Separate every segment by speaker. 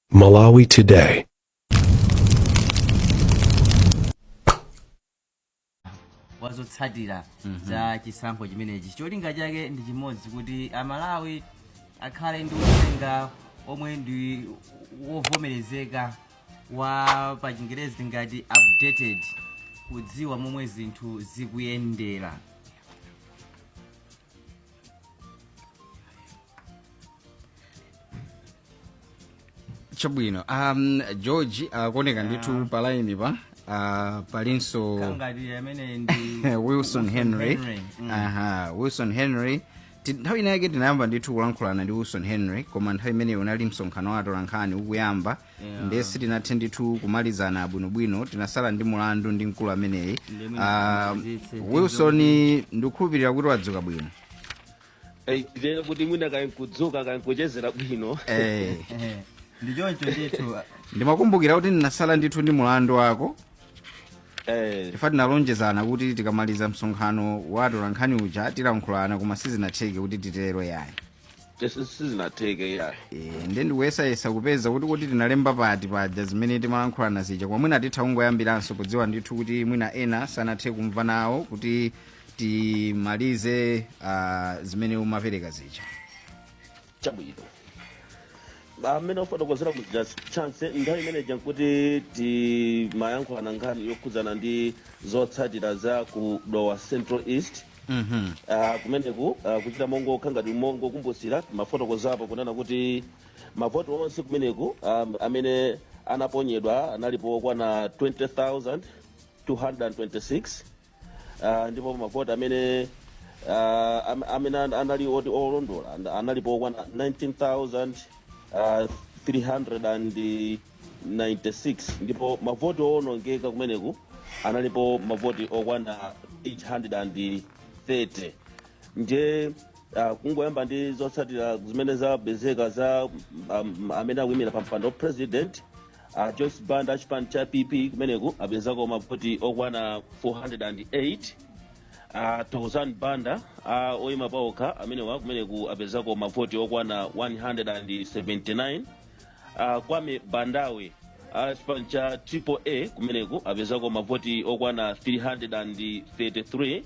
Speaker 1: Malawi Today.
Speaker 2: wa zotsatira za chisankho chimenechi cholinga chake ndi chimodzi kuti amalawi akhale ndi uthenga omwe ndi wovomerezeka wa pa chingerezi tingati updated kudziwa momwe zinthu zikuyendera
Speaker 3: chabwino um, george akuoneka uh, ndithu pa line pa uh, palinso kangati amene
Speaker 2: ndi wilson henry
Speaker 3: Mm. aha wilson henry Ti- nthawi inayake tinayamba ndithu kulankhulana ndi wilson henry koma nthawi imeneyo unali msonkhano wa atolankhani ukuyamba ndiye sitinathe ndithu kumalizana bwinobwino tinasala ndi mulandu ndi mkulu ameneyi Ah, wilson ndikukhulupirira kuti wadzuka bwino Eh,
Speaker 4: lero kuti mwina kaya nkudzuka kaya nkuchezera bwino
Speaker 2: Eh, ndi choncho ndithu ndimakumbukira
Speaker 3: kuti ndinasala ndithu ndi mulandu wako Eh, chifukwa tinalonjezana kuti tikamaliza msonkhano wa atolankhani uja tilankhulana koma sizinatheke kuti titero yayi Sizinatheke
Speaker 4: yayi. Eh, nde
Speaker 3: ndikuyesayesa kupeza kuti kuti tinalemba pati paja zimene timalankhulana zija koma mwina titha kungoyambiranso podziwa ndithu kuti mwina ena sanathe kumva nawo kuti timalize uh, zimene umapereka
Speaker 4: zija Chabwino. Mmene wafotokozera muja chance nthawi imene ija nkuti timayankhulana nkhani yokhudzana ndi zotsatira za ku Dowa Central East Mhm. Ah, kumeneku ah, kuchita mongokhangati mongokumbusira mafotokozapo kunena kuti mavoti onse kumeneku ah, amene anaponyedwa analipo okwana 20226 ah, ndipo mavoti amene ah, am- amene an- anali oti olondola and- analipo okwana 19300 96 ndipo mavoti owonongeka kumeneku analipo mavoti okwana 830 ndiye uh, kungoyamba ndi zotsatira zimene zapezeka za um, amene akuyimira pa mpando wa president uh, joyce banda achipani cha pp kumeneku apezako mavoti okwana 408 uh, thokozani banda uh, oyima paokha amenewa kumeneku apezako mavoti okwana 179 uh, kwame bandawe a chipani cha triple a kumeneku apezako mavoti okwana 333 uh,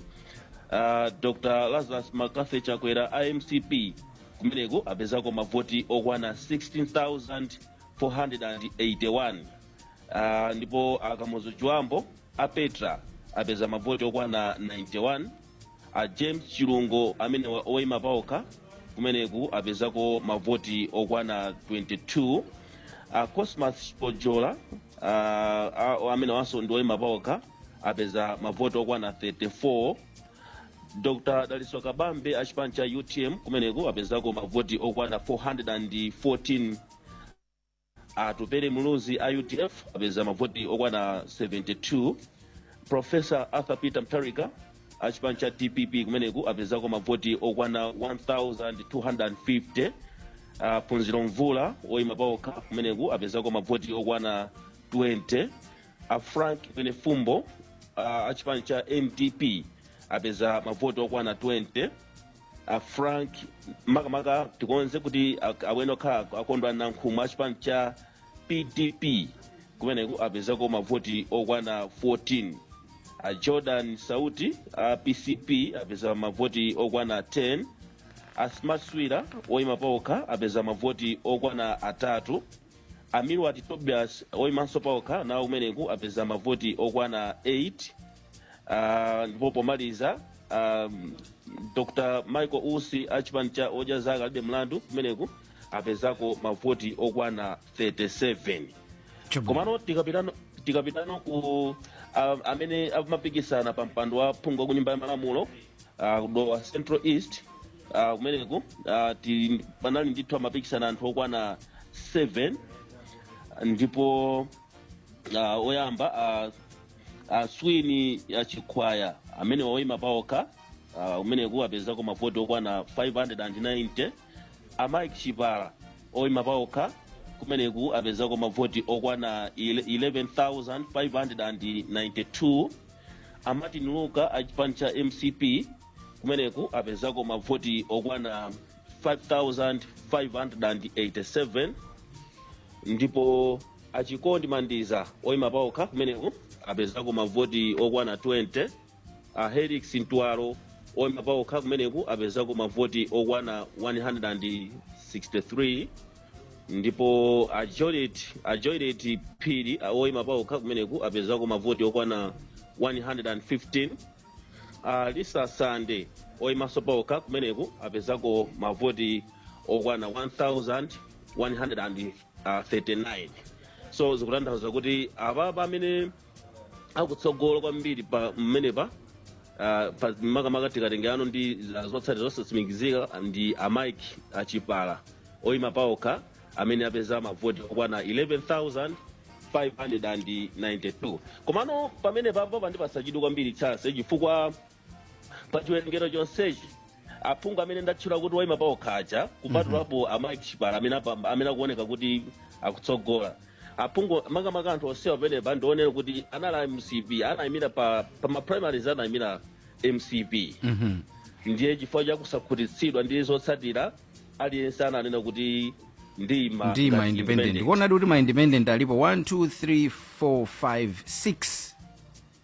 Speaker 4: dr lazarus mccarthy chakwera a mcp kumeneku apezako mavoti okwana 16481 uh, ndipo a kamuzu chibambo a petra apeza mavoti okwana 91 a james chilungo amenewa oima paokha kumeneku apezako mavoti okwana 22 a cosmas pojola ah, ah, amenewanso ndi oima paokha apeza mavoti okwana 34 dr dalitso kabambe achipani cha utm kumeneku apezako mavoti okwana 414 A Atupele Muluzi a udf apeza mavoti okwana 72. Professor Arthur Peter Mutharika a chipani cha dpp kumeneku apezako mavoti okwana 1250. A Phunziro Mvula woyima pawokha kumeneku apezako mavoti okwana 20. A Frank Mwenefumbo a a chipani cha NDP apeza mavoti okwana 20. a frank makamaka tikonze kuti ak- awene okhala ak- akondwa nankhumwa achipani cha pdp kumeneku apezako mavoti okwana 14 a jordan sauti a pcp apeza mavoti okwana 10 a smart swira oyima paokha apeza mavoti okwana atatu a milward tobias oyimanso paokha nawo kumeneku apeza mavoti okwana 8 Ah, ndipo pomaliza um, dr michael usi a chipani cha odya zake alibe mlandu kumeneku apezako mavoti okwana 37 komano tikapitano tikapitano ku um, amene amapikisana pa mpando wa phungu wa ku nyumba ya malamulo uh, ku dowa central east uh, kumeneku uh, ti, panali ndithu amapikisana anthu okwana 7 ndipo uh, oyamba uh, aswini achikhwaya amenewa oima paokha uh, kumeneku apezako mavoti okwana 590 a mike chipala oima paokha kumeneku apezako mavoti okwana 11592 a martin luka a chipani cha mcp kumeneku apezako mavoti okwana 5587 ndipo A Chikondi Mandiza oima paokha kumeneku apezako mavoti okwana 20. A Helix Ntwalo oima paokha kumeneku apezako mavoti okwana 163 ndipo a Joylet a Joylet Phiri a- oima paokha kumeneku apezako mavoti okwana 115. A Lisa Sande oimanso paokha kumeneku apezako mavoti okwana 1100. uh, 39 so zikutanthauza kuti apapa amene akutsogola kwambiri pa mmenepa uh, pa makamaka tikatengerano ndi uh, zotsatira zosatsimikizika ndi a mike achipala oyima paokha amene apeza mavoti okwana 11592 komano pamenepapa pandipatsa chidwi kwambiri chase chifukwa pa chiwerengero chonsechi aphungu amene ndatchula kuti oyima paokha aja kupatulapo a mike chipala amene apamba- amene akuoneka kuti akutsogola aphungu makamaka anthu onsewa pamenepa ndi onena kuti anali a mcp anayimira pa, pa ma primaries anayimira mcp Mhm. ndiye chifukwa cha kusakhutitsidwa ndi zotsatira aliyense ananena kuti ndima ndi ma independent
Speaker 3: kuonadi kuti ma independent alipo 1 2 3 4 5 6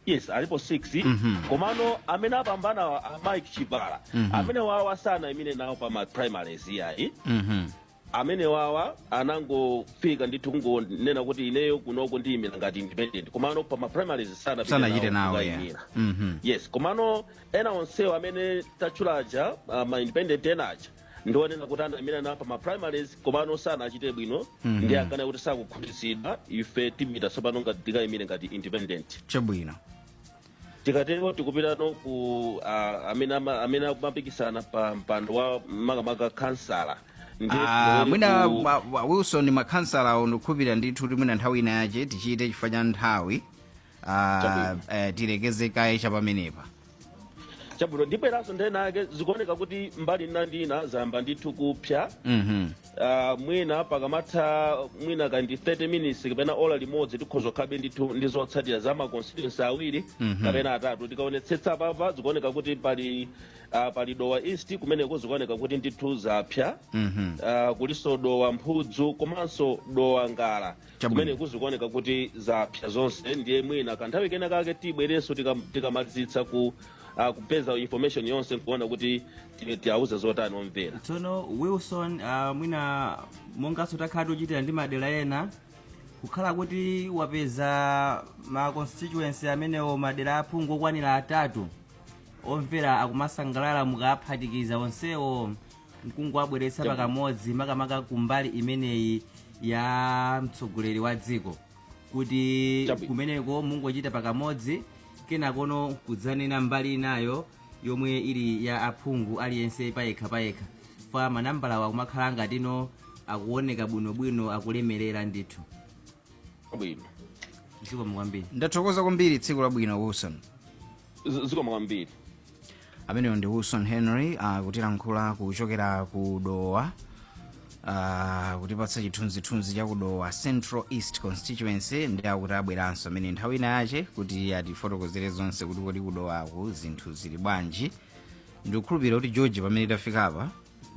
Speaker 3: yes
Speaker 4: alipo 6 Mhm. komano amene apambana wa- a mike chipala Mhm. amene wawa sanayimire nawo pa ma primaries iyayi Mhm. amene wawa anangofika ndithu kungonena kuti ineyo kunoko ndiyimira ngati independent komano pa ma primaries sanapite sanachite nawo nawo ya
Speaker 3: kukayimira. Mhm. yes
Speaker 4: komano ena onsewo amene tatchulaja uh, ma independent ena aja ndi onena kuti anayimira nawo pa ma primaries komano sanachite bwino Mhm. ndiye akuona kuti sakukhutitsidwa ife tiyima tsopano ngati tikayimire ngati independent chabwino tikatero tikupitano ku ah, amene ama- amene akumapikisana pa mpando wa makamaka kansala Ndi Ah, kulowere
Speaker 3: mwina ku- wa- wa- wilson makhansala awo ndikukhulupirira ndithu kuti mwina nthawi ina yache tichite chifukwa cha nthawi Ah, Chabwino. eh, tilekeze kaye cha
Speaker 4: pamenepa chabwino ndibweranso nthawi ina yake zikuoneka kuti mbali ina ndi ina zayamba ndithu kupsa Mhm. Ah, mwina pakamatha mwina kwa 30 minutes kapena ola limodzi tikhoza kukhala ndithu ndi zotsatira za maconstituency awiri Mhm. kapena atatu tikaonetsetsa papa zikuoneka kuti pali ah, pali dowa east kumeneko zikuoneka kuti ndithu zapsa Mhm. Ah, kulinso dowa mphudzu komanso dowa ngala Chabwino. kumeneko zikuoneka kuti zapsa zonse ndiye mwina kanthawi kena kake tibwerenso tikam- tikamalizitsa ku ah, kupeza information yonse nkuona kuti ti- tiauze zotani omvera tsono wilson
Speaker 2: uh, mwina monganso takhala tikuchitira ndi madera ena kukhala kuti wapeza ma constituency amenewo madera aphungu okwanira atatu omvera akumasangalala mukaphatikiza onsewo nkungowabweretsa pakamodzi makamaka kumbali imeneyi ya mtsogoleri wa dziko kuti Chabwino. kumeneko mungochita pakamodzi kenakono nkudzanena mbali inayo yomwe ili ya aphungu aliyense payekha payekha chifukwa manambalawa kumakhala ngatino akuoneka bwinobwino akulemerera ndithu chabwino zikomo kwambiri ndathokoza kwambiri
Speaker 3: tsiku labwino wilson Z- zikomo
Speaker 4: kwambiri
Speaker 3: ameneyo ndi wilson henry akutilankhula kuchokera ku dowa ah, kutipatsa chithunzithunzi cha kudowa central east constituency ndi akuti abweranso amene nthawi ina yache kuti atifotokozere zonse kuti kodi kudowaku zinthu zili bwanji ndikukhulupirira kuti george pamene tafika apa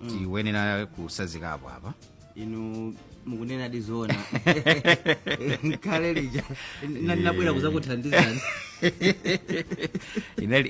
Speaker 3: tikuyenera kutsazikapo apa
Speaker 2: inu mukunena ndi zoona kale
Speaker 3: lija
Speaker 2: na- nabwera kudzakuthandizani inali